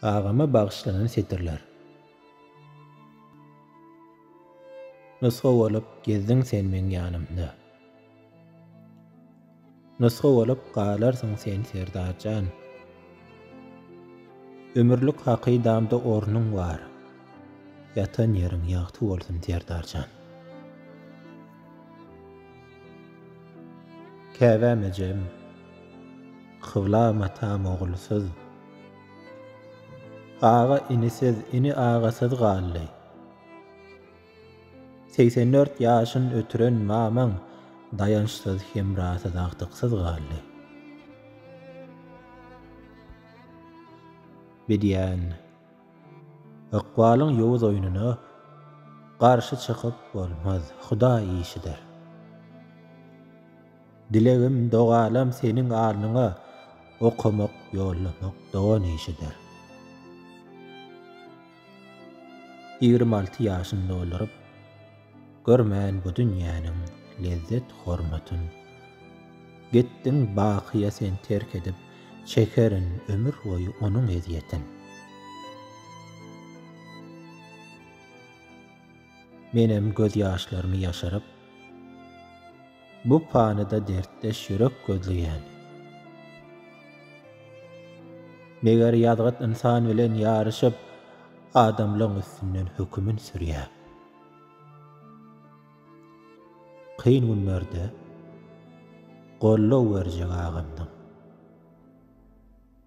Agama bagyşlanan setirler. Nusga bolup gezdiň sen meň ýanymda. Nusga bolup galarsyň sen Serdar jan. Ömürlik hakydamda ornuň bar. Ýatan ýeriň ýagty bolsun Serdar jan. Käbäm ejem. Kybla matam ogulsyz. Aga inisiz, ini agasyz galdy. Segsen dört ýaşyn ötüren mamaň daýançsyz, hemrasyz, agtyksyz galdy. Bedýän, ykbalyň ýowuz oýnuna garşy çykyp bolmaz, Hudaý işidir. Dilegim dogalam seniň alnyňa okamak ýollamak dogan işidir. Ýigrimi alty ýaşyny dolduryp görmän bu dünýäniň lezzet hormatyn Gitdiň bakyýa sen terk edip çekerin ömür boýy onuň ezýetin. Menem gözýaşlarymy ýaşyryp. Bu panyda dertdeş ýürek gözleýän. Meger ýazgyt ynsan bilen ýaryşyp, adamlaň üstünden hökümin sürýär. Kyn günlerde goldaw berjek agamdyň.